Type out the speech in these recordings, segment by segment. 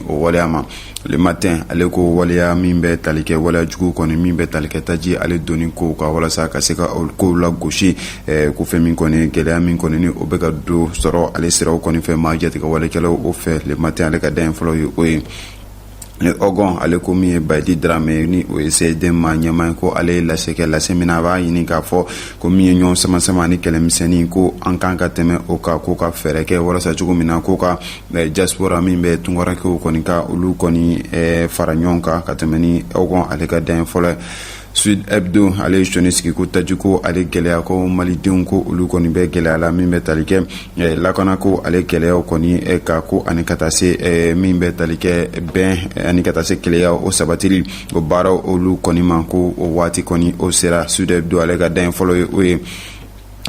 o waleya ma le matin ale ko waleya min bɛ tali kɛ waleyajugu kɔni min bɛ tali kɛ taji ale donni ko ka walasa ka se ka ko lagosi ko fɛn min kɔni gɛlɛya min kɔni o bɛ ka don sɔrɔ ale siraw kɔni fɛ maajatigɛwalekɛlaw o fɛ le matin ale ka da fɔlɔ ye o ye le hogon ale ko min ye bayidi daramɛ ni o ye csdm maa ɲɛma ye ko ale ye lase kɛ lase min a b'a ɲini k'a fɔ ko min ye ɲɔgɔn samasama ni kɛlɛmisɛnnin ko an kan ka tɛmɛ o kan k'o ka fɛɛrɛ kɛ walasa cogo min na k'o ka diaspora min bɛ tunkarankew kɔni ka olu kɔni fara ɲɔgɔn kan ka tɛmɛ le hogon ale ka da fɔlɔ sud hebdo ale ye sɔnin sigi ko taji ko ale gɛlɛya ko malidenw ko olu kɔni bɛ gɛlɛya la min bɛ tali kɛ lakana ko ale gɛlɛya kɔni ka ko ani ka taa se min bɛ tali kɛ bɛn ani ka taa se kelenya o sabati o baaraw olu kɔni ma ko o waati kɔni o sera sud hebdo ale ka da fɔlɔ ye o ye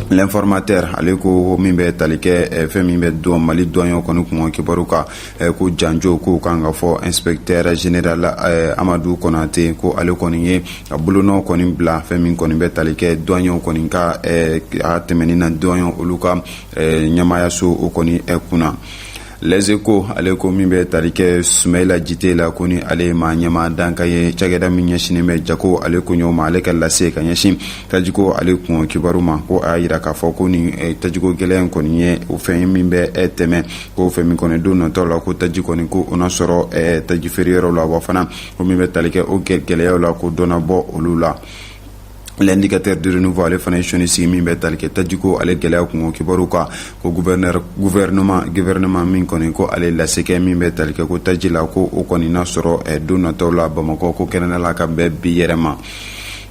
l'informateur ale ko min bɛ tali kɛ eh, fɛn min bɛ don mali duwanyɛw kɔni kun kibaru kan eh, ko janjo ko kan ka fɔ inspecteur general eh, amadu konate ko ale kɔni ye a bolonɔ kɔni bila fɛn min kɔni bɛ tali kɛ duwanyɛw kɔni ka a tɛmɛni na duwanyɛw olu ka ɲɛmaayaso o kɔni kunna les échos ale ko min bɛ tali kɛ sumayila jite la ko ni ale ye maa ɲɛma dankan ye cakɛda min ɲɛsinnen bɛ jago ale koɲɛw ma ale ka lase ka ɲɛsin tajiko ale kun kibaru ma ko a y'a jira k'a fɔ ko ni tajiko gɛlɛya in kɔni ye o fɛn ye min bɛ tɛmɛ ko fɛn min kɔni don natɔ la ko taji kɔni ko o na sɔrɔ tajifeereyɔrɔw la wa fana ko min bɛ tali kɛ o gɛlɛyaw la ko dɔ na bɔ olu la l'indicateur du renouveau ale fana ye sɔnin sigi min bɛ tali kɛ tajiko ale gɛlɛya kun kibaru kan ko gouvernement gouvernement min kɔni ko ale lase kɛ min bɛ tali kɛ ko taji la ko o kɔni na sɔrɔ don natɔ la bamakɔ ko kɛnɛda la ka bɛn bi yɛrɛ ma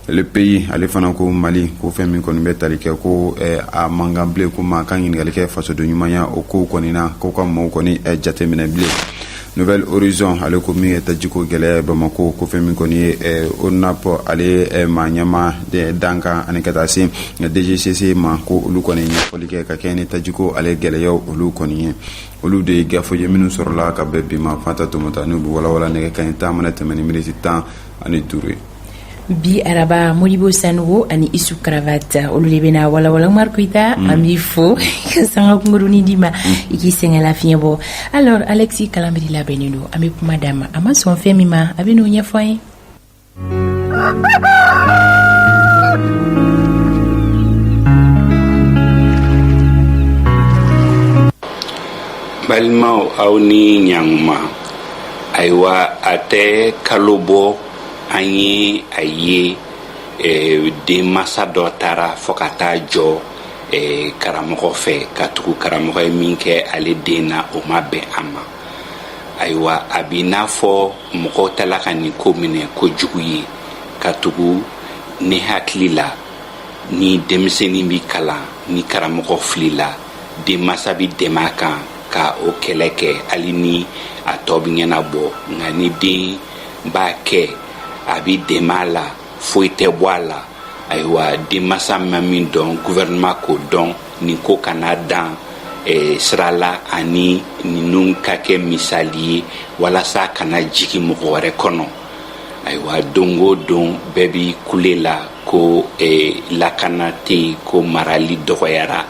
le pays ale fana ko mali ko fɛn min kɔni bɛ tali kɛ ko a man kan bilen ko maa ka ɲininkali kɛ fasoden ɲumanya o ko kɔni na ko ka maaw kɔni jateminɛ bilen nouvel horizon ale ko min ye tajiko gɛlɛya bamako ko fɛn min kɔni ye eh, onap ale ye eh, maa ɲɛma dankan ani ka taa se dgcc ma ko olu kɔni ɲɛfɔli kɛ ka kɛɲɛ ni tajiko ale gɛlɛyaw olu kɔni ye olu de ye gafew ye minnu sɔrɔla ka bɛn bi ma fanta tomota n'u bɛ walawala nɛgɛ kanɲɛ tan mana tɛmɛ ni miniti tan ani duuru ye bi araba modibo sanɔgɔ ani isu cravate olu de bena walawala umar koyita mm. an b'i fo ka sanga kunkurunin d'i ma mm. i k'i sɛgɛn lafiɲɛ bɔ alors alexis kalambry labɛnnen don an be kuma d'a ma a ma sɔn fɛn min ma a be n'o ɲɛfɔ an ye balimaw aw ni ɲanguma ayiwa a tɛ kalo bɔ an ye a ye denmansa dɔ taara fɔ ka taa jɔ karamɔgɔ fɛ katugu karamɔgɔ ye min kɛ ale den na o ma bɛn a ma ayiwa a b'i n'a fɔ mɔgɔw tala ka nin ko minɛ ko jugu ye katugu ne hakili la ni denmisɛnnin bi kalan ni karamɔgɔ filila denmansa bi dɛmɛ a kan ka o kɛlɛ kɛ hali ni a tɔ bi ɲɛnabɔ nka ni den n b'a kɛ a bi dɛmɛ a la foyi tɛ bɔ a la ayiwa denmansa ma min dɔn guvɛrɛnɛma k'o dɔn nin ko kana dan eh, sira la ani ninnu ka kɛ misali ye walasa kana jigin mɔgɔ wɛrɛ kɔnɔ ayiwa don o don bɛɛ bi kule la ko eh, lakana tɛ yen ko marali dɔgɔyara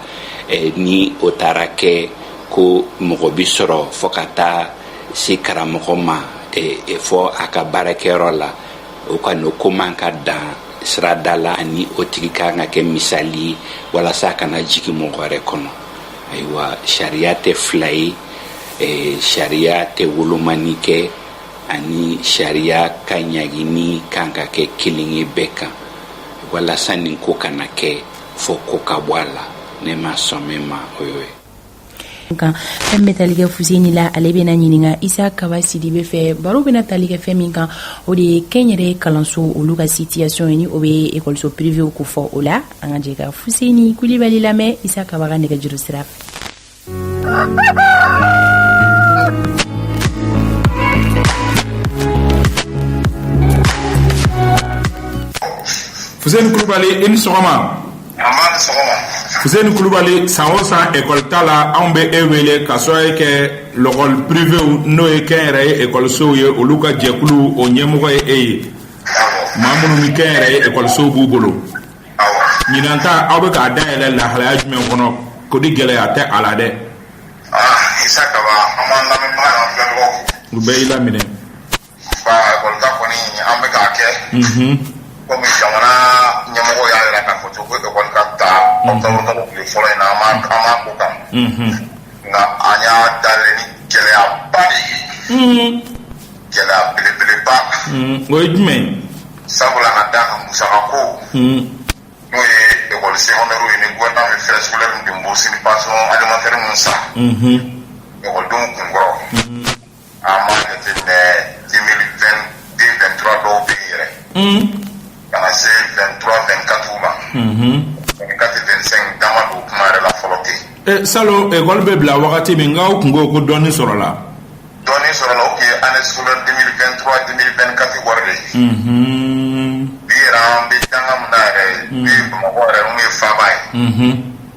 eh, ni o taara kɛ ko mɔgɔ bi sɔrɔ fɔ ka taa se karamɔgɔ ma fɔ a ka baarakɛyɔrɔ la o kɔni o ko man ka dan sirada la ani o tigi kan ka kɛ misali ye walasa a kana jigin mɔgɔ wɛrɛ kɔnɔ ayiwa sariya tɛ fila ye sariya tɛ wolomani kɛ ani sariya ka ɲagini kan ka kɛ kelen ye bɛɛ kan walasa nin ko kana kɛ fɔ ko ka bɔ a la ne ma sɔn min ma o y'o ye kan fɛn min bɛ tali kɛ fuseni la ale bɛna ɲininka isa kaba sidibe fɛ baro bɛna tali kɛ fɛn min kan o de ye kɛnyɛrɛ kalanso olu ka sitiyasɔn ye ni o bɛ ekɔliso pirivew ko fɔ o la an ka jɛ ka fuseni kulibali lamɛn isa kaba ka nɛgɛjuru sira fɛ fuseni kulubali i ni sɔgɔma fuseni kulubali san o san ekɔli ta la anw bɛ e wele k'a sababu kɛ lɔkɔli pirivew n'o ye kɛnyɛrɛye ekɔlisow ye olu ka jɛkulu o ɲɛmɔgɔ ye e ye maa minnu ni kɛnyɛrɛye ekɔlisow b'u bolo ɲinan ta aw bɛ k'a dayɛlɛ lahalaya jumɛn kɔnɔ ko di gɛlɛya tɛ a la dɛ u bɛɛ y'i laminɛ Ba école ta kɔni an bɛ k'a kɛ kɔmi jamana ɲɛmɔgɔ y'a jira k'a fɔ cogo ko école ka ta octobre kalo tile fɔlɔ in na an b'a an b'a ko kan nka an y'a dayɛlɛ ni gɛlɛyaba de ye gɛlɛya belebeleba o ye jumɛn ye sabula ka d'a kan musaka ko n'o ye école secondaire ye ni gouvernement bɛ frais scolaire ni bourse ni pension alimentaire ninnu sara école denw kun kɔrɔ A ma jate mɛ den den bɛ tura dɔw bɛ yɛrɛ kana se bɛn tura bɛn ka ma ka tɛmɛsɛn dama don kuma yɛrɛ la fɔlɔ ten sa wari bɛ bila wagati min n' tun ko ko dɔɔnin sɔrɔ la dɔɔnin sɔrɔ u ye an sun denmisɛnnin tura denmisɛnnin ka wari de ye bi bɛ danga yɛrɛ mɔgɔ yɛrɛ n ye faama ye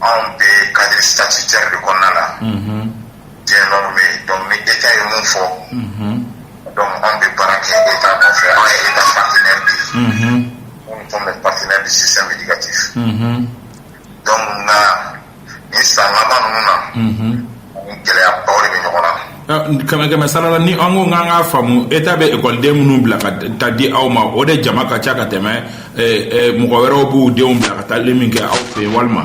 anw bɛ cadre statutaire de kɔnɔna la, unhun, bien normé donc ni Etat ye min fɔ, unhun, donc anw bɛ baara kɛ Etat nɔfɛ anw ye Etat partenaire de ye, unhun, nous sommes les partenaires du système éducatif, unhun, donc nka nin san laban ninnu na, unhun. Kɛmɛkɛmɛ sarala ni an ko k'an k'a faamu Etat bɛ ekɔliden minnu bila ka taa di aw ma o de jama ka ca ka tɛmɛ mɔgɔ wɛrɛw b'u denw bila ka taali min kɛ aw fɛ yen walima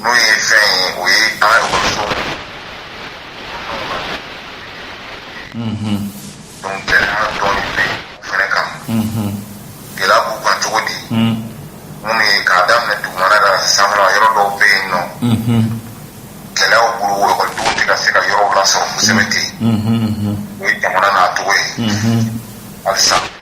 n'o ye fɛn ye o ye an ka ekɔliso donc gɛlɛya dɔɔni bɛ yen o fana kan gɛlɛya b'u kan cogo di minnu ye k'a daminɛ dugumana taa sanfɛla yɔrɔ dɔw bɛ yen n'o gɛlɛyaw bolo o ekɔlidenw tɛ ka se ka yɔrɔw lasɔrɔ kosɛbɛ ten o ye jamana n'a cogo ye halisa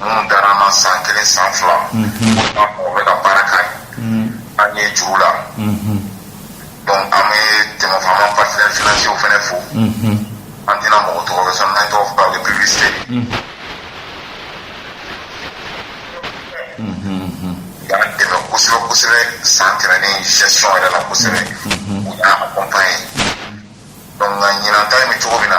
minnu dara an na san kelen san fila u bɛ ka baara kɛ an ye juru la donc an bɛ jɛɲɔgɔnw vraiment partenaires financiers fana fo an tɛna mɔgɔ tɔgɔ fɔ sinon n'an tɔgɔ fɔ o ye publicité y'an dɛmɛ kosɛbɛ kosɛbɛ san tɛmɛnen gestion yɛrɛ la kosɛbɛ u y'an accompagner donc nka ɲinan ta in bɛ cogo min na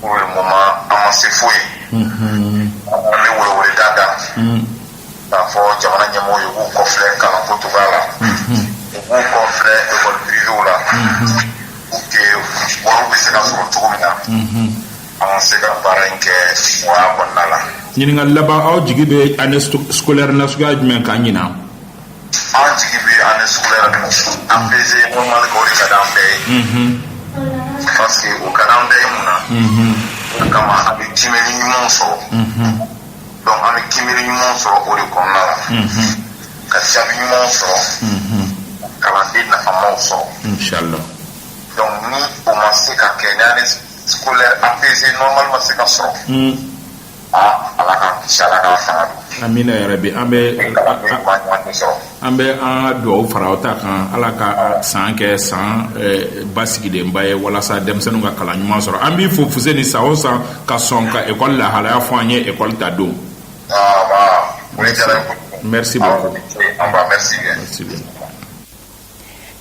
Pour le moment an ma se foyi ye an bɛ weleweleda k'a fɔ jamana ɲɛmɔgɔw ye k'u kɔfilɛ kalan ko cogoya la u b'u kɔfilɛ école privéew la pour que wari bɛ se ka sɔrɔ cogo min na an ka se ka baara in kɛ nɔgɔya kɔnɔna la ɲininkali laban aw jigi bɛ année scolaire na suguya jumɛn kan ɲinan An jigi bɛ année scolaire apaisée normale kan o de ka di an bɛɛ ye parce que o ka di an bɛɛ ye mun na o kama an bɛ kiimɛli ɲumanw sɔrɔ donc an bɛ kiimɛli ɲumanw sɔrɔ o de kɔnɔna la ka jaabi ɲumanw sɔrɔ kalanden nafamaw sɔrɔ inshallah donc ni o ma se ka kɛ ni année scolaire apaisée normale ma se ka sɔrɔ An bɛ yɛrɛ bi an bɛ an bɛ an dugawu fara u ta kan ala ka san kɛ san basigilenba ye walasa denmisɛnninw ka kalan ɲuman sɔrɔ an b'i fo Fuseni sa o san ka sɔn ka ekɔli lahalaya fɔ an ye ekɔli ta don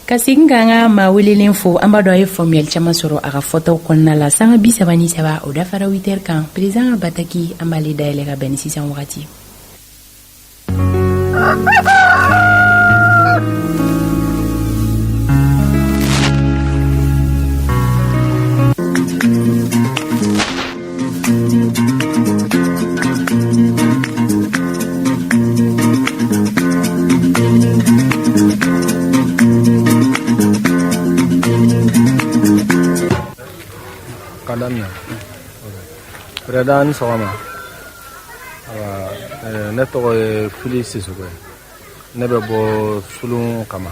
ka segin k'an ka maa welelen fo an b'a dɔn a ye faamuyali caman sɔrɔ a ka fɔtaw kɔnɔna la sanga bi saba ni saba o dafara witɛri kan perezidan ka bataki an b'ale dayɛlɛ ka bɛn ni sisan wagati ka daminɛ perezidan i ni sɔgɔma ne tɔgɔ ye fili sisoko ye ne bɛ bɔ sulun kama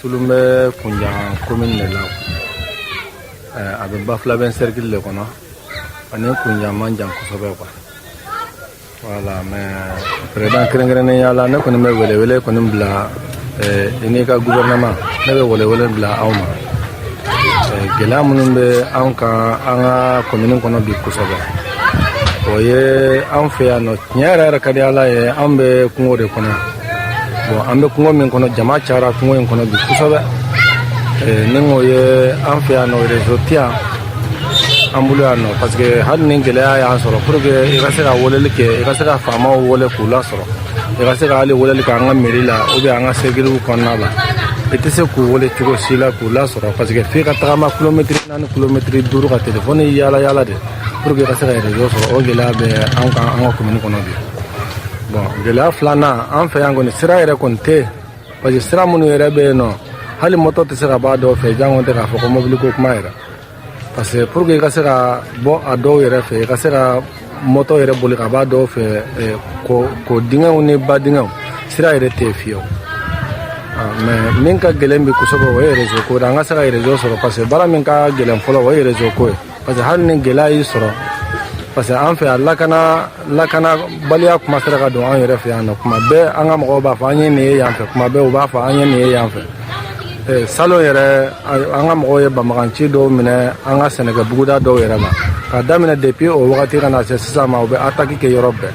Sulun bɛ Kunjan kɔmini de la a bɛ Bafulabɛ sɛrikili de kɔnɔ ani Kunjan man jan kosɛbɛ quoi voilà mais perezidan kɛrɛnkɛrɛnnenya la ne kɔni bɛ welewele kɔni bila i n'i ka gɔfɛrɛnaman ne bɛ welewele bila aw ma gɛlɛya minnu bɛ an kan an ka kɔmini kɔnɔ bi kosɛbɛ o ye an fɛ yan nɔ tiɲɛ yɛrɛ yɛrɛ ka di ala ye an bɛ kungo de kɔnɔ bon an bɛ kungo min kɔnɔ jama cayara kungo in kɔnɔ bi kosɛbɛ eh, ni o ye an fɛ yan nɔ rezo tɛ yan an bolo yan nɔ parce que hali ni gɛlɛya y'an sɔrɔ pour que i ka se ka weleli kɛ i ka se ka faamaw wele k'u lasɔrɔ i ka se ka hali weleli kɛ an ka meri la ou bien an ka sɛrikiliw kɔnɔna la i tɛ se k'u wele cogo si la k'u lasɔrɔ parce que f'i ka tagama kilomɛtiri naani kilomɛtiri duuru ka telefɔni yaala yaala de pour que i ka se ka rezo sɔrɔ o gɛlɛya bɛ an kan an ka komini kɔnɔ bi gɛlɛya filanan an fɛ yan kɔni sira yɛrɛ kɔni tɛ parce que sira minnu yɛrɛ bɛ yen nɔ hali mɔtɔ tɛ se ka b'a dɔw fɛ jango tɛ k'a fɔ ko mɔbili ko kuma yɛrɛ parce que pour que i ka se ka bɔ a dɔw yɛrɛ fɛ i ka se ka mɔtɔ yɛrɛ boli ka b'a dɔw fɛ ko kɔ dingɛw ni ba dingɛw sira yɛrɛ tɛ yen fiyewu mais min ka gɛlɛn bi kosɛbɛ o ye rezo ko de an ka se ka rezo sɔrɔ parce que baara min ka gɛlɛn fɔlɔ o ye rezo ko ye parce que hali ni gɛlɛya y'i sɔrɔ parce que an fɛ yan lakana lakanabaliya kuma sera ka don an yɛrɛ fɛ yan nɔ kuma bɛɛ an ka mɔgɔw b'a fɔ an ye nin ye yan fɛ kuma bɛɛ u b'a fɔ an ye nin ye yan fɛ eh, salon yɛrɛ an ka mɔgɔw ye banbaganci dɔw minɛ an ka sɛnɛkɛ buguda dɔw yɛrɛ ma ka daminɛ depuis o wagati ka na se sisan ma u bɛ ataki kɛ yɔrɔ bɛɛ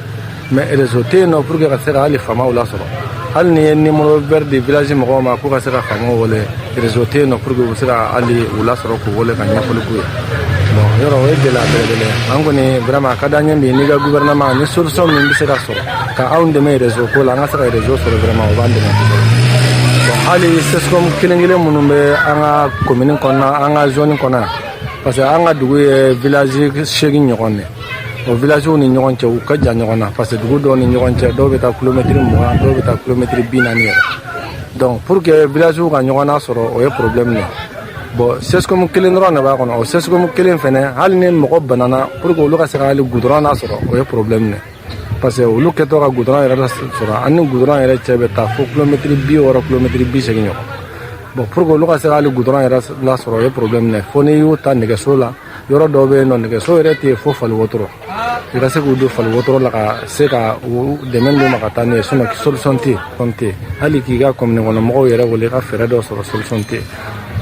mais réseau tɛ yen nɔ pour que ka se ka hali faamaw lasɔrɔ hali n'i ye numéro vert di village mɔgɔw ma k'u ka se ka faamaw wele réseau tɛ yen nɔ pour que u bɛ se ka hali u lasɔrɔ k'u wele ka ɲɛfɔli k'u ye bon yɔrɔ o ye gɛlɛya belebele ye an kɔni vraiment a ka d'an ye bi n'i ka gouvernement ni solution min bɛ se ka sɔrɔ ka anw dɛmɛ réseau ko la an ka se ka réseau sɔrɔ vraiment o b'an dɛmɛ kosɛbɛ bon hali sescom kelen kelen minnu bɛ an ka commune kɔnɔna an ka zone kɔnɔ yan parce que an ka dugu ye village seegin ɲɔgɔn de ye o villagew ni ɲɔgɔn cɛ u ka jan ɲɔgɔn na parce que dugu dɔw ni ɲɔgɔn cɛ dɔw bɛ taa kilomɛtiri mugan dɔw bɛ taa kilomɛtiri bi naani yɛrɛ donc pour que villagew ka ɲɔgɔn nasɔrɔ o ye problème ye bon sesikomu kelen dɔrɔn de b'a kɔnɔ o sesikomu kelen fɛnɛ hali ni mɔgɔ banana pour que olu ka se ka hali gudɔrɔn nasɔrɔ o ye problème ye parce que olu kɛtɔ ka gudɔrɔn yɛrɛ sɔrɔ an ni gudɔrɔn yɛrɛ cɛ bɛ taa fo kilomɛtiri bi wɔɔrɔ kilomɛtiri bi seegin ɲɔgɔn bon pour que olu ka se ka hali gudɔrɔn yɛrɛ lasɔrɔ o ye problème ye fo n'i y'u ta nɛgɛso la yɔrɔ dɔw bɛ yen nɔ nɛgɛso yɛrɛ tɛ fo fali wotoro i ka se k'u don fali wotoro la ka se ka u dɛmɛ d'u ma ka taa n'u ye sinɔn solisɔn tɛ yen kɔni tɛ yen hali k'i ka kɔmini kɔnɔ mɔgɔw yɛrɛ wele ka fɛɛrɛ dɔ sɔrɔ solisɔn tɛ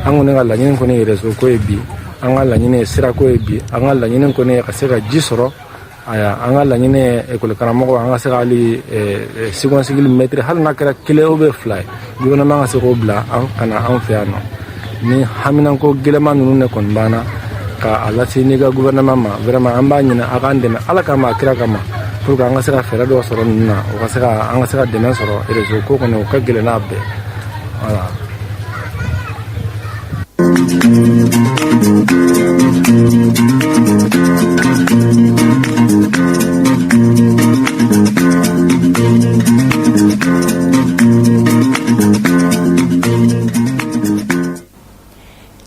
an kɔni ka laɲini kɔni ye réseau ko ye bi an ka laɲini ye sirako ye bi an ka laɲini kɔni ye ka se ka ji sɔrɔ Ayiwa an ka laɲini ye école karamɔgɔ an ka se ka hali second cycle maître hali n'a kɛra kelen ou bien fila ye gouvernement ka se k'o bila a ka na an fɛ yan nɔ nin haminanko gɛlɛman ninnu de kɔni b'an na k'a lase n'i ka gouvernement ma vraiment an b'a ɲini a k'an dɛmɛ ala kama a kira kama pour que an ka se ka fɛɛrɛ dɔ sɔrɔ ninnu na o ka se an ka se ka dɛmɛ sɔrɔ réseau ko kɔni o ka gɛlɛn n'a bɛɛ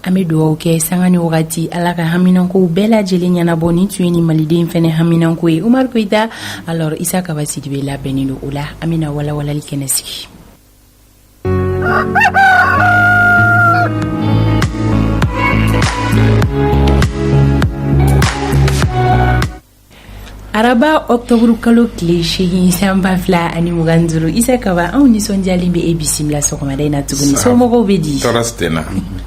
An bɛ dugawu kɛ sanga ni wagati ala ka haminankow bɛɛ lajɛlen ɲɛnabɔ nin tun ye nin maliden fɛnɛ haminanko ye umaru koyita alors isa kaba sidibe labɛnnen don o la an bɛna walawalali kɛnɛ sigi araba octobre kalo tile seegin san ba fila ani mugan duuru isa kaba anw nisɔndiyalen bɛ e bisimila sɔgɔmada in na tuguni somɔgɔw bɛ di tɔɔrɔ tɛ n na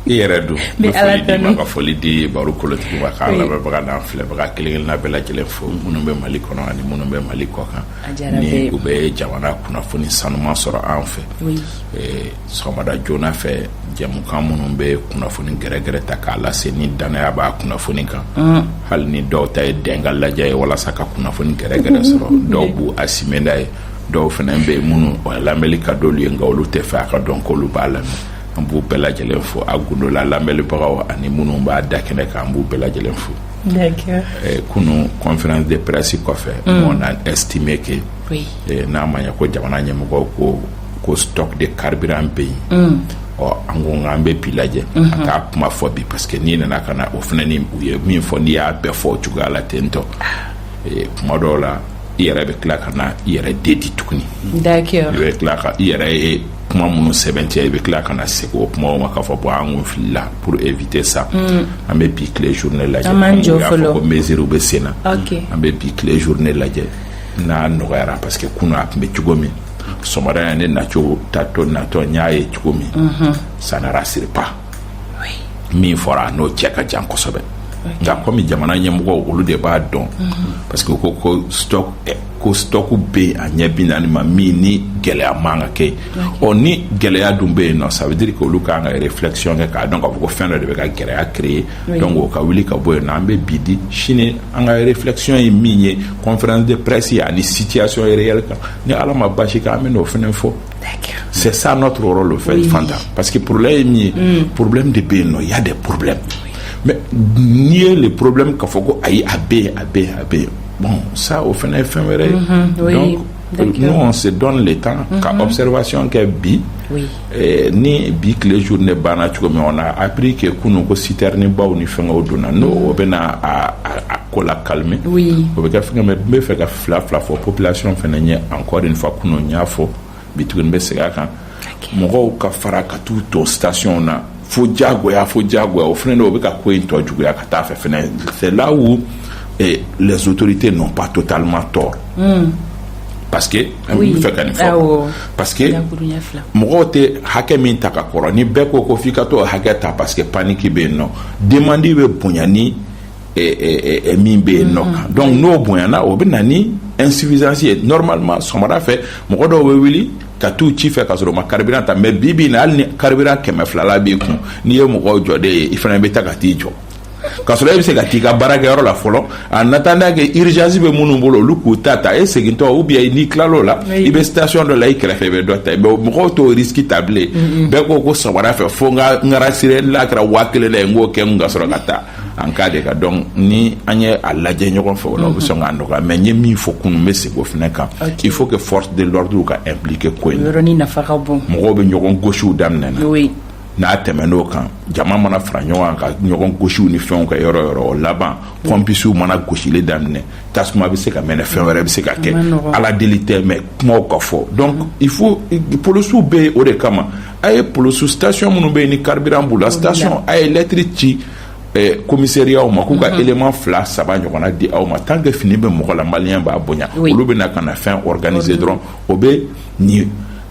i yɛrɛ dun bɛ ala tanu ka foli di baro kolotigi ma k'an lamɛnbaga n'an filɛbaga kelen-kelenna bɛɛ lajɛlen fo minnu bɛ mali kɔnɔ ani minnu bɛ mali kɔkan ni u bɛ jamana kunnafoni sanuman sɔrɔ an fɛ sɔgɔmada joona fɛ jamukan minnu bɛ kunnafoni gɛrɛgɛrɛ ta k'a lase ni dannaya b'a kunnafoni kan hali ni dɔw ta ye dɛn k'a lajɛ ye walasa ka kunnafoni gɛrɛgɛrɛ sɔrɔ dɔw b' a simɛda ye dɔw fana bɛ yen minnu lamɛnli ka d'olu ye nka olu tɛ fɛ a ka dɔn ko olu b'a lamɛn an b'u bɛɛ lajɛlen fo a gundola lamɛnlibagaw ani minnu b'a da kɛnɛ kan an b'u bɛɛ lajɛlen fo kunun conférence de presse kɔfɛ on a estimé que oui n'a ma ɲɛ ko jamana ɲɛmɔgɔw ko ko stock de carburant bɛ yen nɔ an ko nka an bɛ bi lajɛ an t'a kuma fɔ bi parce que n'i nana ka na o fana ni u ye min fɔ n'i y'a bɛɛ fɔ o cogoya la ten tɔ kuma dɔw la i yɛrɛ bɛ tila ka na i yɛrɛ dédire tuguni i bɛ tila ka i yɛrɛ ye kuma minnu sɛmɛntiya i bɛ tila ka na segin o kumaw ma k'a fɔ bon an kun filila pour éviter ça mm. an bɛ bi tile journée lajɛ an b'an jɔ fɔlɔ ko mesure bɛ sen na an bɛ bi tile journée lajɛ n'a nɔgɔyara parce que kunun a tun bɛ cogo min sɔgɔmada yan ne nacogo taatɔ natɔ n y'a ye cogo min mm-hmm. ça ne rassure pas min fɔra n'o cɛ ka jan kosɛbɛ nka komi jamana ɲɛmɔgɔw olu de b'a dɔn mm-hmm. parce que ko ko stock ko stock bɛ yen eh bien normalement gɛlɛya man ka kɛ yen nɔ ni gɛlɛya dun bɛ yen nɔ ça veut dire que olu ka kan ka réflexion kɛ k'a dɔn k'a fɔ ko fɛn dɔ de bɛ ka gɛlɛya créer donc o ka wuli ka bɔ yen nɔ an bɛ bi di sini an ka réflexion ye min ye conférence de presse ani situation réelle kan ni ala ma basi kɛ an bɛ n'o fana fɔ c'est ça notre rôle en fait oui. fanta parce que problème ye min ye mm. problème de bɛ yen nɔ il y a des problèmes mais nier le problème k'a fɔ ko ayi a bɛ yen a bɛ yen a bɛ yen bon sa o fana ye fɛn wɛrɛ ye ɲɔgɔn se dɔn de tan ka fɛsɛrɛbasiyɔn kɛ bi ni bi tile s de banna cogo min na a bi kɛ kunun ko siteri ni baw ni fɛn o donna n'o o bɛ ko la kami o bɛ kɛ fɛn bɛ fɛ ka fila fila fɔ ppilasiyɔn fana ye an kɔ fa kunun y'a fɔ bi tuguni n bɛ segin a kan mɔgɔw ka fara ka t'u ton stationw na fo jagoya fo jagoya o fana de bɛ ka ko in tɔ juguya ka taa fɛ fana c'est là où les autorités n'ont pas totalement tort hmm. parce que an bɛ fɛ ka nin fɔ parce que mɔgɔw tɛ hakɛ min ta ka kɔrɔ ni bɛɛ ko ko f'i ka t'o hakɛ ta parce que panique bɛ yen nɔ demande bɛ bonya ni min bɛ yen nɔ kan donc n'o bonyana o bɛ na ni insuffisance ye normalement sɔgɔmada fɛ mɔgɔ dɔw bɛ wuli ka taa ci fɛ ka sɔrɔ u ma carburant ta mais bi bi na hali ni carburant kɛmɛ fila la b'i kun n'i ye mɔgɔw jɔden ye i fana bɛ taa ka t'i jɔ ka sɔrɔ e bɛ se ka t'i ka baarakɛyɔrɔ la fɔlɔ en attendant que urgence bɛ minnu bolo olu k'u ta ta e segintɔ ou bien n'i tilala o la i bɛ taa station dɔ la i kɛrɛfɛ i bɛ dɔ ta mɔgɔw t'o risque ta bilen bɛɛ ko ko sɔgɔmada fɛ fo n ka rassurer n'a kɛra waa kelen la n k'o kɛ n ka sɔrɔ ka taa en cas de cas donc ni an ye a lajɛ ɲɔgɔn fɛ o la o bɛ sɔn k'a nɔgɔya mais n ye min fɔ kunun n bɛ segin o fana kan il faut que force de l'ordre ka impliquer ko in na yɔrɔnin nafa ka bon mɔgɔw bɛ ɲɔgɔn gosiw daminɛ na oui n'a tɛmɛn'o kan jama mana fara ɲɔgɔn kan ka ɲɔgɔn gosiw ni fɛnw kɛ yɔrɔ yɔrɔ o laban pɔmpisiw mana gosili daminɛ tasuma bɛ se ka mɛnɛ fɛn wɛrɛ bɛ se ka kɛ ala deli tɛ mais kumaw ka fɔ donc il faut polisiw bɛ o de kama a ye polisi station minnu bɛ yen ni carburant b'u la station a ye lɛtiri ci eh, komisɛriyaw ma k'u ka mhm. élément fila saba ɲɔgɔnna di aw ma tant que fini bɛ mɔgɔ la maliyɛn b'a bonya olu bɛ na ka na fɛn organiser dɔrɔn o bɛ nin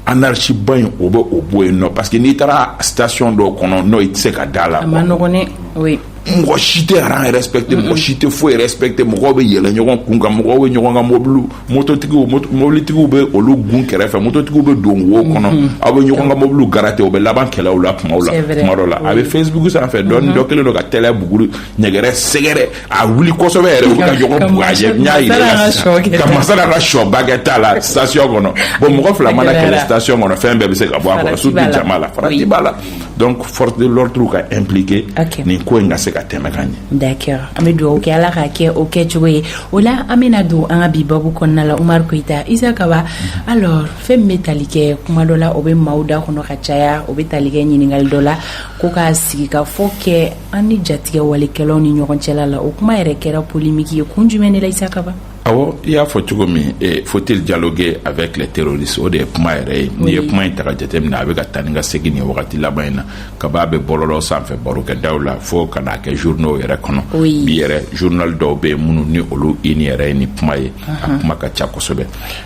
anarchie ba in o bɛ o bɔ yen nɔ parce que n'i taara station dɔw kɔnɔ n'o i tɛ se ka da a la. a man nɔgɔn dɛ oui. mɔgɔ si tɛ rang respecter mɔgɔ si tɛ foyi respecter mɔgɔw bɛ yɛlɛ ɲɔgɔn kun kan mɔgɔw bɛ ɲɔgɔn ka mobiliw mototigiw mobilitigiw bɛ olu gun kɛrɛfɛ mototigiw bɛ don wo kɔnɔ aw bɛ ɲɔgɔn ka mobiliw garate o bɛ laban kɛlɛw la kumaw la kuma dɔ la a bɛ facebook sanfɛ dɔɔni dɔ kɛlen don ka tɛlɛ buguru ɲɛgɛrɛ sɛgɛrɛ a wuli kosɛbɛ yɛrɛ u bɛ ka ɲɔgɔn bugɔ a ɲɛ n y'a yira la sisan ka masala ka sɔba kɛ t'a la station kɔnɔ bon mɔgɔ fila mana kɛlɛ station kɔnɔ fɛn bɛɛ bɛ se ka bɔ a kɔnɔ surtout jama la farati b'a la donc force de l'ordre ka impliquer okay. nin ko in ka se ka tɛmɛ ka ɲɛ d'accord an bɛ dugawu kɛ ala ka kɛ o kɛcogo ye o la an bɛna don an ka bi babu kɔnɔna la umaru koyita isa kaba mhm. alors fɛn min bɛ tali kɛ kuma dɔ la o bɛ maaw da kɔnɔ ka caya o bɛ tali kɛ ɲininkali dɔ la ko ka sigi ka fɔ kɛ an ni jatigɛwalekɛlaw ni ɲɔgɔn cɛla la o kuma yɛrɛ kɛra polimiki ye kun jumɛn de la isa kaba awɔ i y'a fɔ cogo min eh, faut-il dialoguer avec les terroristes o de ye kuma yɛrɛ ye n'i ye kuma in ta k'a jateminɛ a bɛ ka taa ni ka segin nin wagati laban in na kaba bɛ bɔlɔlɔw sanfɛ barokɛdaw la fo ka n'a kɛ journaux yɛrɛ kɔnɔ bi yɛrɛ journal dɔw bɛ yen minnu ni olu une yɛrɛ ye nin kuma ye a kuma ka ca kosɛbɛ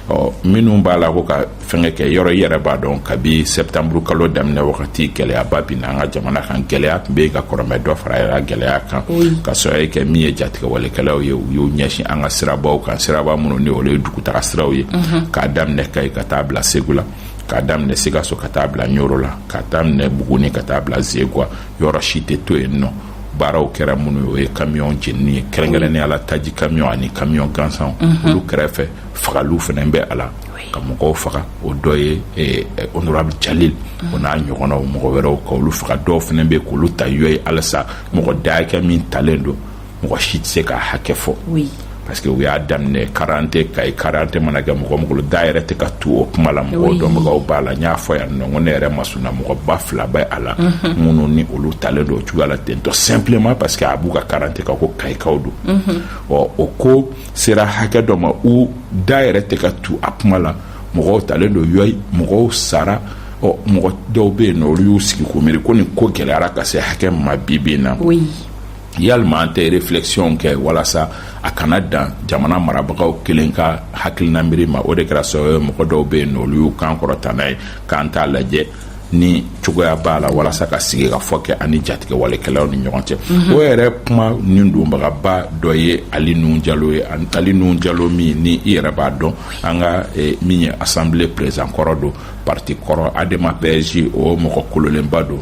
ɔ minnu b'a la ko ka fɛnkɛ kɛ yɔrɔ i yɛrɛ b'a dɔn kabi sɛptanburu kalo daminɛ wagati gɛlɛyaba binna an ka jamana kan gɛlɛya tun bɛ yen ka kɔrɔ mais dɔ fara yɛrɛ gɛlɛya kan ka sɔrɔ ye kɛ min ye jatigɛwalekɛlaw ye u y'u ɲɛsin an ka sirabaw kan siraba minnu ni olu ye dugutaga siraw ye mhm. k'a daminɛ kayi ka taa bila segu la k'a daminɛ sikaso ka taa bila ɲoro la k'a daminɛ buguni ka taa bila zegwa yɔrɔ si tɛ to yen nɔ baaraw kɛra minnu ye kamiyɔn jenini ye kɛrɛnkɛrɛnnenya la taji kamiyɔn ani kamiyɔn gansanw mhm. olu kɛrɛfɛ fagaliw fɛnɛ bɛ a la ka mɔgɔw faga o dɔ ye eh, eh, honorable jalil o n'a ɲɔgɔnnaw mɔgɔ wɛrɛw ka olu faga dɔw fana bɛ k'olu ta yɔ ye halisa mɔgɔ da hakɛ min talen don mɔgɔ si tɛ se ka hakɛ fɔ parce que u y'a daminɛ karadante kayi karadante mana kɛ mɔgɔ mɔgɔ da yɛrɛ tɛ ka tu o kuma la mɔgɔ dɔnbagaw b'a la n y'a fɔ yan nɔ ko ne yɛrɛ masurunna mɔgɔba fila bɛ a la mhm. minnu ni olu talen don o cogoya la ten tout simplement parce que a b'u ka karadante kan ko kayikaw don mhm. ɔ o ko sera hakɛ dɔ ma u da yɛrɛ tɛ ka tu a kuma la mɔgɔw talen don yɔyi mɔgɔw sara ɔ mɔgɔ dɔw bɛ yen nɔ olu y'u sigi k'u miiri ko nin ko gɛlɛyara ka se hakɛ min ma bi bi in na yalima an tɛ reflɛkisiyɔn kɛ walasa a kana dan jamana marabagaw kelen ka hakilina miiri ma o de kɛra sababu ye mɔgɔ dɔw bɛ yen nɔ olu y'u kan kɔrɔta n'a ye k'an t'a lajɛ ni cogoya b'a la walasa ka sigikafɔ kɛ an ni jatigɛwalekɛlaw ni ɲɔgɔn cɛ mhm. o yɛrɛ kuma nin donbagaba dɔ ye ali nuhu jalo ye ali nuhu jalo min ni i yɛrɛ b'a dɔn an ka eh, min ye assemblée président kɔrɔ don parti kɔrɔ adema pasj o mɔgɔ kololenba don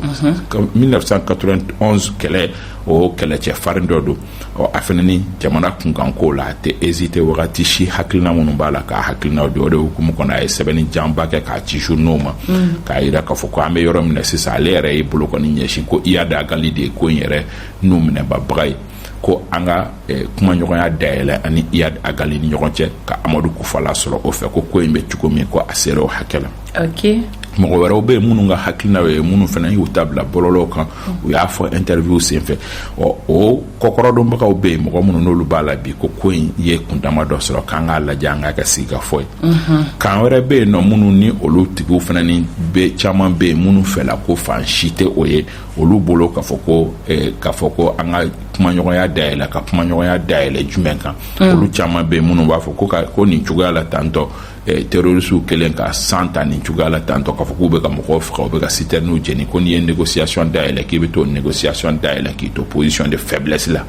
1991 mhm. kɛlɛ o kɛlɛcɛ farin dɔ don ɔ a fana ni jamana kunkanko la a tɛ hésiter wagati si hakilina minnu b'a la k'a hakilinaw di o de hukumu kɔnɔ a ye sɛbɛnni janba kɛ k'a ci journaux ma mm. k'a yira k'a fɔ ko an bɛ yɔrɔ min na sisan ale yɛrɛ ye bolokɔni ɲɛsin ko iyad ag ali de ye ko in yɛrɛ nun minɛbaga ye ko an ka eh, kumaɲɔgɔnya dayɛlɛ an ni iyad ag ali ni ɲɔgɔn cɛ ka amadu kufa lasɔrɔ o fɛ ko ko in bɛ cogo min ko a sera o hakɛ la okay. mɔgɔ wɛrɛw bɛ yen minnu ka hakilinaw ye minnu fana y'u ta bila bɔlɔlɔw kan u y'a fɔ interview senfɛ ɔ o kɔkɔrɔdonbagaw bɛ yen mɔgɔ minnu n'olu b'a la bi ko ko in ye kundama dɔ sɔrɔ k'an k'a lajɛ an k'a kɛ sigikafɔ ye kan wɛrɛ bɛ yen nɔ minnu ni olu tigiw fana ni bɛ caman bɛ yen minnu fɛla ko fan si tɛ o ye olu bolo k'a fɔ ko eh, k'a fɔ ko an ka kumaɲɔgɔnya dayɛlɛ ka kumaɲɔgɔnya dayɛlɛ jumɛn kan olu caman bɛ yen minnu b'a fɔ ko ka ko nin cogoya la tan tɔ Eh, terrorisiw kɛlen ka san ta nin cogoya la tan tɔ k'a fɔ k'u bɛ ka mɔgɔw faga u bɛ ka sitɛriniw jeni ko n'i ye négociation dayɛlɛ k'i bɛ t'o négociation dayɛlɛ k'i to position de faiblesse la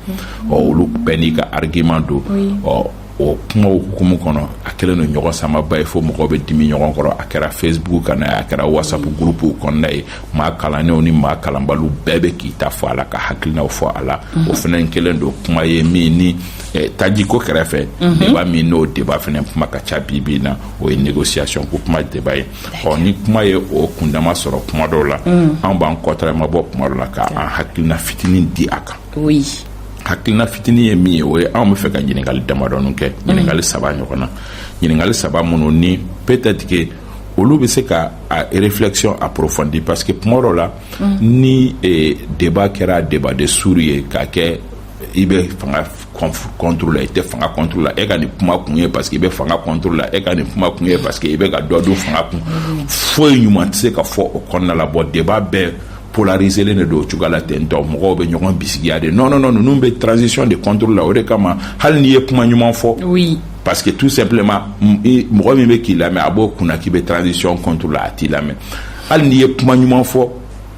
ɔ olu bɛɛ n'i ka argument don ɔ o kumaw hukumu kɔnɔ a kɛlen don ɲɔgɔnsamaba ye fo mɔgɔw bɛ dimi ɲɔgɔn kɔrɔ a kɛra facebook kanna ye a kɛra whatsapp gurupuw kɔnɔna ye maa kalannenw ni maa kalanbaliw bɛɛ bɛ k'i ta fɔ a la ka hakilinaw fɔ a la o fana kɛlen don kuma ye min ni Eh, tajiko kɛrɛfɛ mhm. débat min n'o débat fana kuma ka ca bi bi na o ye négociation ko kuma débat ye ɔ ni kuma ye o kundama sɔrɔ kuma dɔw la mhm. an b'an kɔtarama bɔ kuma dɔ la ka an hakilina fitinin di a kan hakilina fitinin ye min ye o ye anw b'a fɛ ka ɲiningali damadɔnin kɛ mhm. ɲiningali saba ɲɔgɔn na ɲiningali saba minnu ni peut-être que olu bɛ se ka a réflexion approfondir parce que kuma dɔ la ni eh, débat kɛra débat de sourds ye k'a kɛ i bɛ fanga contre la i tɛ fanga contre la e ka nin kuma kun ye parce que i bɛ fanga contre la e ka nin kuma kun ye parce que i bɛ ka dɔ dun fanga kun foyi ɲuman tɛ se ka fɔ o kɔnɔna la bon débat bɛɛ polariselen de don o cogoya la ten tɔ mɔgɔw bɛ ɲɔgɔn bisigiya de non non non ninnu bɛ transition de contre la o de kama hali n'i ye kuma ɲuman fɔ oui parce que tout simplement mɔgɔ min bɛ k'i lamɛn a b'o kunna k'i bɛ transition contre la a t'i lamɛn hali n'i ye kuma ɲuman fɔ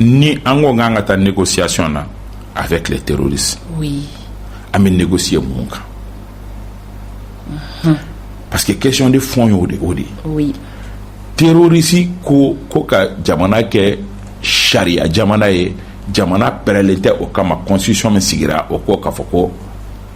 ni an ko k'an ka taa négociation na avec les terroristes oui. an bɛ négocier mun kan mhm. parce que question de fond y'o de o de oui. terrorisi ko ko ka jamana kɛ sariya jamana ye jamana pɛrɛlen tɛ o kama constitution min sigira o ko k'a fɔ ko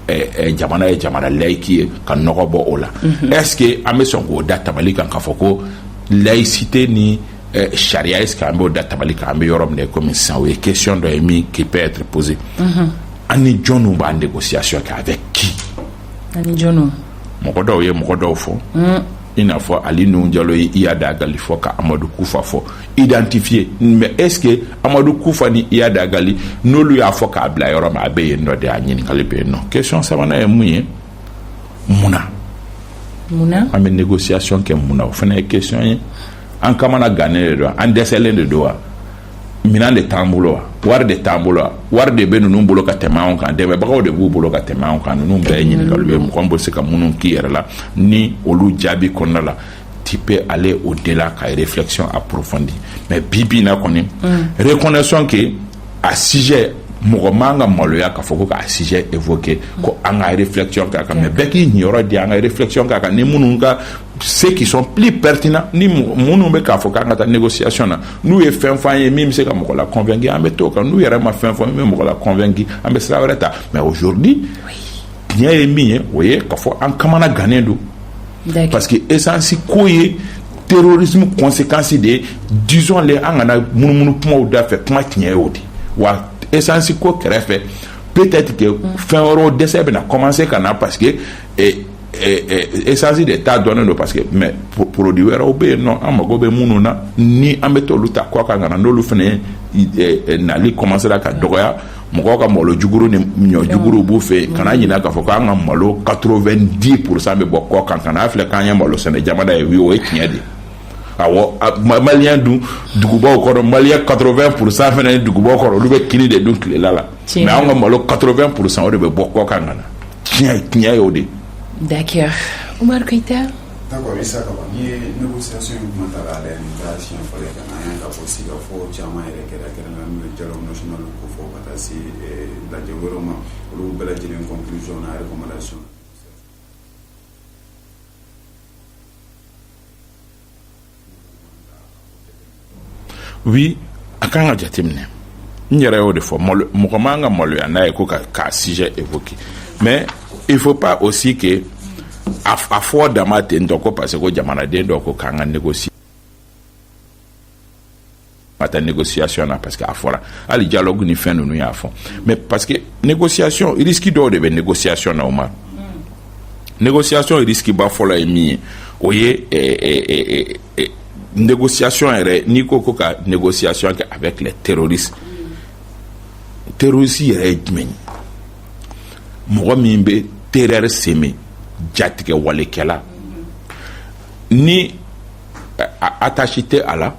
eh, eh, jamana ye jamana layiki ye ka nɔgɔ bɔ o la mm -hmm. est-ce que an bɛ sɔn k'o da tabali kan k'a fɔ ko laïcité ni eh, sariya est ce que an b'o da tabali kan an bɛ yɔrɔ min na komi sisan o ye question dɔ ye min qui peut être posée mhm. an ni jɔnniw b'a négociation kɛ avec qui an ni jɔnniw mɔgɔ dɔw ye mɔgɔ dɔw fɔ mm. i n'a fɔ ali nuhun jalo ye iyad ag gali fɔ ka amadu kufa fɔ identifier mais est ce que amadu kufa ni iyad ag gali n'olu y'a fɔ k'a bila yɔrɔ min a bɛ yen nɔ de a ɲininkali bɛ yen nɔ question sabanan ye mun ye mun na mun na an bɛ négociation kɛ mun na o fana ye question ye an kamana gannen de don an dɛsɛlen de don wa minɛn de t'an bolo wa wari de t'an bolo wa wari de bɛ ninnu bolo ka tɛmɛ anw kan dɛmɛbagaw de b'u bolo ka tɛmɛ anw kan ninnu bɛɛ ye ɲininkaliw ye mɔgɔ min bɛ se ka minnu k'i yɛrɛ la ni olu jaabi kɔnɔna la tu peux aller au-delà ka réflexion approfondir mais bi bi in na kɔni reconnaissons que a sujet mɔgɔ man ka maloya k'a fɔ ko k'a sujet évoquer ko an ka réflexion k'a kan mais bɛɛ k'i niyɔrɔ di an ka réflexion k'a kan ni minnu ka ceux qui sont plus pertinents ni minnu bɛ k'a fɔ k'an ka taa négociation na n'u ye fɛn f'an ye min bɛ se ka mɔgɔ la convaincu an bɛ t'o kan n'u yɛrɛ ma fɛn fɔ min bɛ mɔgɔ la convaincu an bɛ sira wɛrɛ ta mais aujourd'hui oui. tiɲɛ ye min ye o ye ka fɔ an kamana gannen don parce que esansi ko ye terrorisme conséquence de ye disons-le an kana munumunu kumaw da fɛ kuma tiɲɛ ye o de wa esansi ko kɛrɛfɛ peut-être que mm. fɛn wɛrɛw dɛsɛ bɛna commencer ka na parce que eh, Eh, eh, esansi de ta dɔnnen don parce que mais produit wɛrɛw bɛ yen nɔ an mago bɛ minnu na ni an bɛ t'olu ta kɔ kan ka na n'olu fana eh, nali kɔmansera ka dɔgɔya mɔgɔw ka malo juguru ni ɲɔ juguru b'u fɛ yen kana ɲinɛ k'a fɔ k'an ka malo 90 pourcent bɛ bɔ kɔ kan kana filɛ k'an ye malo sɛnɛ jamana ye o ye tiɲɛ de ye awɔ maliyɛn dun dugubaw kɔnɔ maliyɛn 80 pourcent fana ye dugubaw kɔnɔ olu bɛ kini de dun tilela la mais anw ka malo 80 pourcent o de bɛ bɔ kɔ kan ka na tiɲɛ tiɲɛ y'o de ye. D'accord Umaru Keyita. D'accord Isa Kaba n'i ye négociation in kuma ta k'a lajɛ nin t'a siɲɛ fɔlɔ ye ka na an y'a ye k'a fɔ sigikafɔ caman yɛrɛ kɛra kɛrɛnkɛrɛnnen n'o ye dialogue national ko fɔ ka taa se lajɛ wɛrɛw ma olu bɛɛ lajɛlen conclusion n'a recommandation oui a kan ka jateminɛ n yɛrɛ y'o de fɔ mɔgɔ man ka maloya n'a ye ko k'a sujet évoquer mais il faut pas aussi que a fɔ dama ten tɔ ko parce que ko jamanaden dɔ ko k'an ka négocier ka taa négociation na parce que a fɔra hali dialogue ni fɛn ninnu y'a fɔ mais parce que négociation risque dɔw de bɛ négociation na o ma négociation risque ba fɔlɔ ye min ye o ye eh, eh, eh, négociation yɛrɛ n'i ko ko ka négociation kɛ avec les terroristes terroriste yɛrɛ ye jumɛn ye mɔgɔ min bɛ terreur semer jatigɛ walekɛla ni attache tɛ a la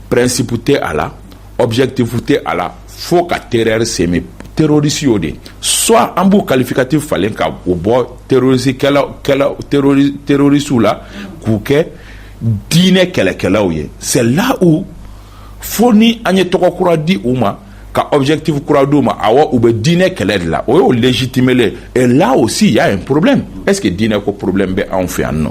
principe tɛ a la objectif tɛ a la fo ka terreur semer terroriste y'o de soit an b'u qualificatif falen ka o bɔ terroristew la k'u kɛ diinɛ kɛlɛkɛlaw ye c'est là où fo ni an ye tɔgɔ kura di u ma ka objectif kura d'u ma awɔ u bɛ diinɛ kɛlɛ de la o y'o légitimer et là aussi il y a un problème est-ce que diinɛ ko problème bɛ anw fɛ yan nɔ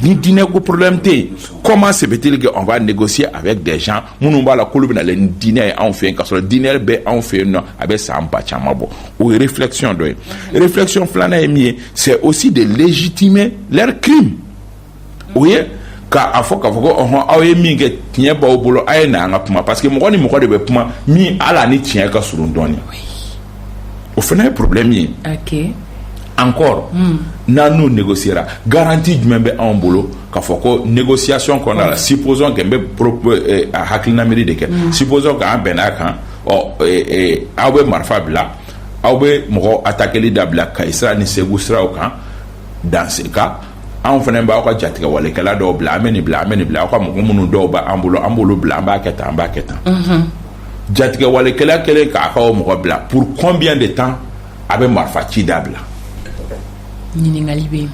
ni diinɛ ko problème tɛ yen comment se fait-il que on va négocier avec des gens minnu b'a la k'olu bɛ na ni diinɛ ye anw fɛ yen k'a sɔrɔ diinɛ bɛ anw fɛ yen nɔ a bɛ san ba caman bɔ o ye réflexion dɔ ye réflexion filanan ye min ye c'est aussi de légitimer leur crime o ye ka a fɔ k'a fɔ ko ɔhɔn aw ye min kɛ tiɲɛ b'aw bolo a ye na an ka kuma parce que mɔgɔ ni mɔgɔ de bɛ kuma min hali a ni tiɲɛ ka surun dɔɔnin. o fana ye problème ye encore n'an n'u négociera garantie jumɛn bɛ anw bolo k'a fɔ ko négociation kɔnɔna la supposons que n bɛ hakilina miiri de kɛ supposons que an bɛnna a kan ɔ aw bɛ marifa bila aw bɛ mɔgɔ attaqueli dabila kayi sira ni segu siraw kan dans ce cas anw fana b'aw ka jatigɛwalekɛla dɔw bila an bɛ nin bila an bɛ nin bila aw ka mɔgɔ minnu dɔw b'an bolo an b'olu bila an b'a kɛ tan an b'a kɛ tan jatigɛwalekɛla kɛlen k'a ka o mɔgɔ bila pour combien de temps a bɛ marifa ci dabila ɲininkali bɛ yen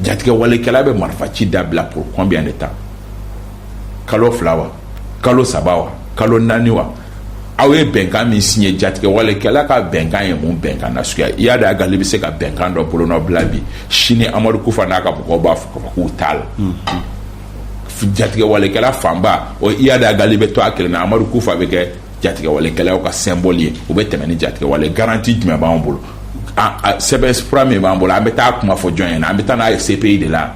jatigɛwalekɛla bɛ marifa ci dabila pour combien de temps kalo fila wa kalo saba wa kalo naani wa aw ye bɛnkan min signé jatigɛwalekɛla ka bɛnkan ye mun bɛnkan na suguya iyad ag gali bɛ se ka bɛnkan dɔ bolonɔbila bi sini amadu kufa n'a ka mɔgɔw b'a fɔ k'a fɔ k'u t'a la jatigɛwalekɛla fanba o iyad ag gali bɛ to a kelen na amadu kufa a bɛ kɛ jatigɛwalekɛlaw ka symbole ye u bɛ tɛmɛ ni jatigɛwale garantie jumɛn b'an bolo sɛbɛn fura min b'an bolo an bɛ taa kuma fɔ jɔn ɲɛ na an bɛ taa n'a ye CPI de la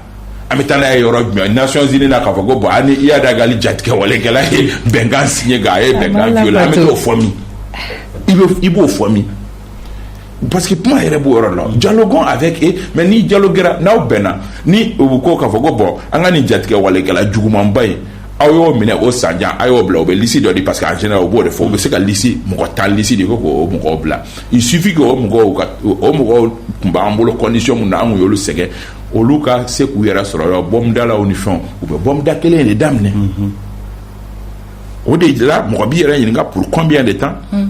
an bɛ taa n'a ye yɔrɔ jumɛn nations unies na k'a fɔ ko bon ani iyad ag gali jatigɛwalekɛla ye bɛnkan signé k'a ye bɛnkan violé an bɛ t'o fɔ min i b'o fɔ min parce que kuma yɛrɛ b'o yɔrɔ la dialoguons avec eux mais n'i dialoguera n'aw bɛnna ni u bɛ ko k'a fɔ ko bon an ka nin jatigɛ walekɛla jugumanba in aw y'o minɛ o sanjan a y'o bila o bɛ liste dɔ di parce que en général o b'o de fɔ u bɛ se ka liste mɔgɔ tan liste di ko k'o mɔgɔw bila il suffit que o mɔgɔw ka o mɔgɔw tun b'an bolo condition mun na an kun y'olu sɛgɛn olu ka se k'u yɛrɛ sɔrɔ yɔrɔ bɔmudalaw ni fɛnw u bɛ bɔmuda kelen de daminɛ o de la mɔgɔ b'i yɛrɛ ɲininka pour combien de temps. Mm.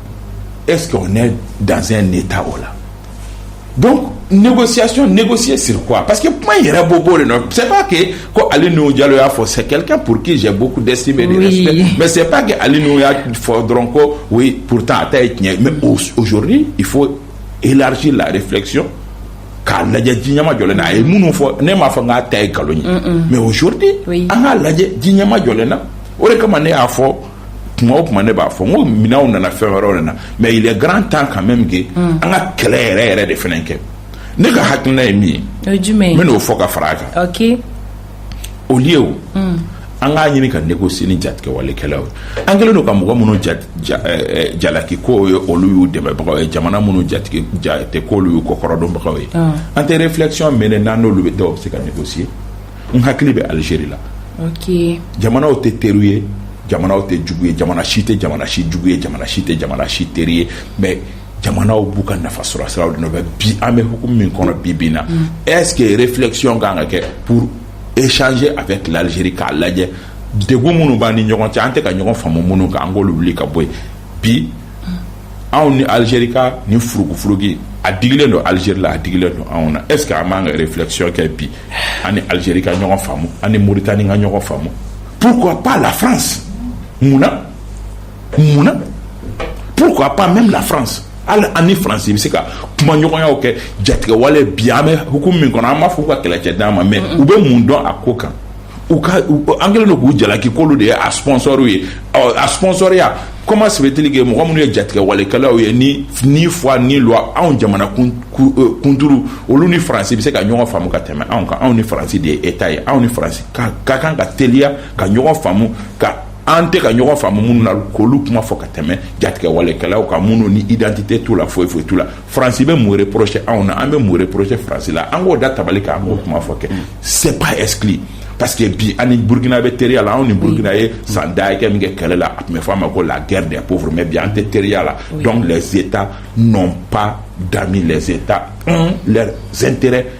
e ne dan ne ta o la don nɛgɛsi nɛgɛsi siri kuwa parce que kuma yɛrɛ bɔ bɔ de nɔn se kɛ ko ali n jalo y'a fɔ sɛ kɛlɛkɛ pur que jɛ bɔ dɛsɛse bɛ mɛ se kɛ ali n'o y'a fɔ dɔrɔn ko o pur a ta ye tiɲɛ mɛ ozouru i fɔ esi lare filɛcɔn k'a lajɛ ji ɲɛma jɔ na a ye minnu fɔ ne m'a fɔ n'a ta ye nkalon ye mɛ ourudi an k'a lajɛ ji ɲɛma jɔlen na o de kama ne y'a fɔ kuma o kuma ne b'a fɔ n ko minɛnw nana fɛn wɛrɛw nana mais il est grand temps quand même que an ka kɛlɛ yɛrɛ yɛrɛ de fana kɛ ne ka hakilina ye min ye n bɛ n'o fɔ ka fara a kan au lieu an k'a ɲini ka négocier ni jatigɛwalekɛlaw ye an kɛlen don ka mɔgɔ minnu jalaki ko ye olu y'u dɛmɛbagaw ye jamana minnu jate k'olu y'u kɔkɔrɔdonbagaw ye an tɛ réflexion mener n'an n'olu bɛ dɔw bɛ se ka négocier n hakili bɛ Algérie la jamanaw tɛ teriw ye jamanaw tɛ jugu ye jamana si tɛ jamana si jugu ye jamana si tɛ jamana si teri ye mais jamanaw b'u ka nafa sɔrɔ sira de nɔfɛ bi an bɛ hukumu min kɔnɔ bi bi in na est-ce que réflexion kan ka kɛ pour échanger avec l'Algérie k'a lajɛ degun minnu b'an ni ɲɔgɔn cɛ an tɛ ka ɲɔgɔn faamu minnu kan an k'olu wuli ka bɔ yen bi anw ni Algérie ka nin furugufurugu a digilen don Algérie la a digilen don anw na est-ce que an b'an ka réflexion kɛ bi an ni Algérie ka ɲɔgɔn faamu an ni Mauritanie ka ɲɔgɔn faamu pourquoi pas la france munna munna pourquoi pas même la france hali an ni faransi bɛ se ka kumaɲɔgɔnyaw kɛ jatigɛwale bi an bɛ hukumu min kɔnɔ an b'a fɔ ka kɛlɛcɛ d'an ma mais u bɛ mun dɔn a ko kan u ka an kɛlen don k'u jalaki k'olu de ye a sponsɔriw ye a sponsɔriya comment se fait-il que mɔgɔ minnu ye jatigɛ walekɛlaw ye ni foi ni loi anw jamana kunturu olu ni faransi bɛ se ka ɲɔgɔn faamu ka tɛmɛ anw kan anw ni faransi de ye État ye anw ni faransi ka kan ka teliya ka ɲɔgɔn faamu ka an tɛ ka ɲɔgɔn faamu minnu na k'olu kuma fɔ ka tɛmɛ jatigɛ walekɛlaw kan minnu ni identité t'u la foyi foyi t'u la Fransi bɛ morire porosi anw na an bɛ mori porosi faransi la an k'o da tabali kɛ an b'o kuma fɔ kɛ sep eskili pa que bi an ni burukina bɛ teriya la anw ni burukina ye san dakɛ min kɛ kɛlɛ la a tun bɛ f'a ma ko la gɛrɛ de ko mɛ bi an tɛ teriya la dɔn lajɛe tan nɔn pan da lajɛe tan lɛ zte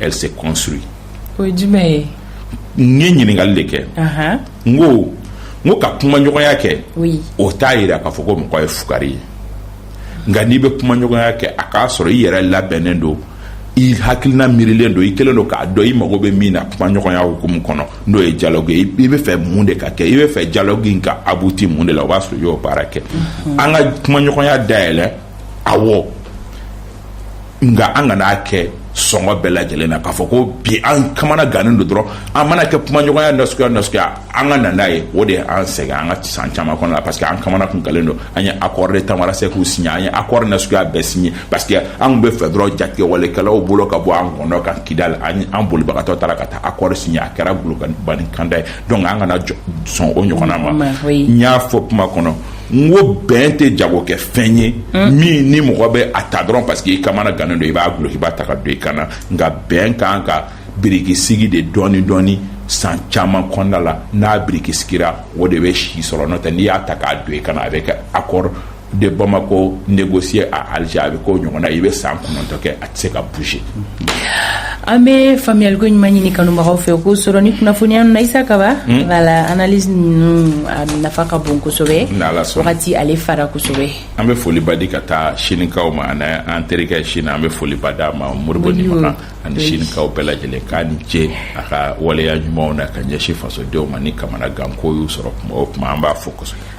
Elle se construit. O ye jumɛn ye? N ye ɲininkali de kɛ. Ahan. N ko n ko ka kumaɲɔgɔnya kɛ. Oui. O t'a jira k'a fɔ ko mɔgɔ ye fugari ye. Nka n'i bɛ kumaɲɔgɔnya kɛ a k'a sɔrɔ i yɛrɛ labɛnnen don i hakilina miirilen don i kɛlen don k'a dɔn i mago bɛ min na kumaɲɔgɔnya hukumu kɔnɔ n'o ye dialogue ye i bɛ fɛ mun de ka kɛ i bɛ fɛ dialogue in ka abouti mun de la o b'a sɔrɔ i y'o baara kɛ an ka kumaɲɔgɔnya dayɛlɛ awɔ nka an kan'a kɛ sɔngɔ bɛɛ lajɛlen na k'a fɔ ko bi an kamana gannen don dɔrɔn an mana kɛ kumaɲɔgɔnya nasuguya nasuguya an ka na n'a ye o de y'an sɛgɛn an ka san caman kɔnɔ la parce que an kamana kun gannen don an ye accord tamanrasset signé an ye accord nasuguya bɛɛ signé parce que an b'a fɛ dɔrɔn jatigɛwalekɛlaw bolo ka bɔ an kɔnɔ kan kidali an bolibagatɔ taara ka taa accord signé a kɛra golokan kanda ye donc an kana sɔn o ɲɔgɔnna ma n y'a fɔ kuma kɔnɔ n ko bɛn tɛ jagokɛfɛn ye min ni mɔgɔ bɛ a ta dɔrɔn parce que i kamana gannen don i b'a dulokiba ta k'a don i kan na nka bɛn kan ka birikisigi de dɔɔni dɔɔni san caman kɔnɔna la n'a birikisigira o de bɛ si sɔrɔ n'o tɛ n'i y'a ta k'a don i kan na a bɛ kɛ accord de Bamako négocié à Alger a bɛ k'o ɲɔgɔnna i bɛ san kɔnɔntɔn kɛ a se ka bouger an bɛ faamuyaliko ɲuman ɲini kanubagaw fɛ k'o sɔrɔ ni kunnafoniya ninnu na isa kaba voilà analyse ninnu a nafa ka bon kosɛbɛ wagati ale fara kosɛbɛ an bɛ foliba di ka taa sinikaw ma ani an terikɛ sini an bɛ foliba d'a ma moribo nimaka ani sinikaw bɛɛ lajɛlen k'a ni ce a ka waleya ɲumanw na ka ɲɛsin fasodenw ma ni kamana ganko y'u sɔrɔ kuma o kuma an b'a fo kosɛbɛ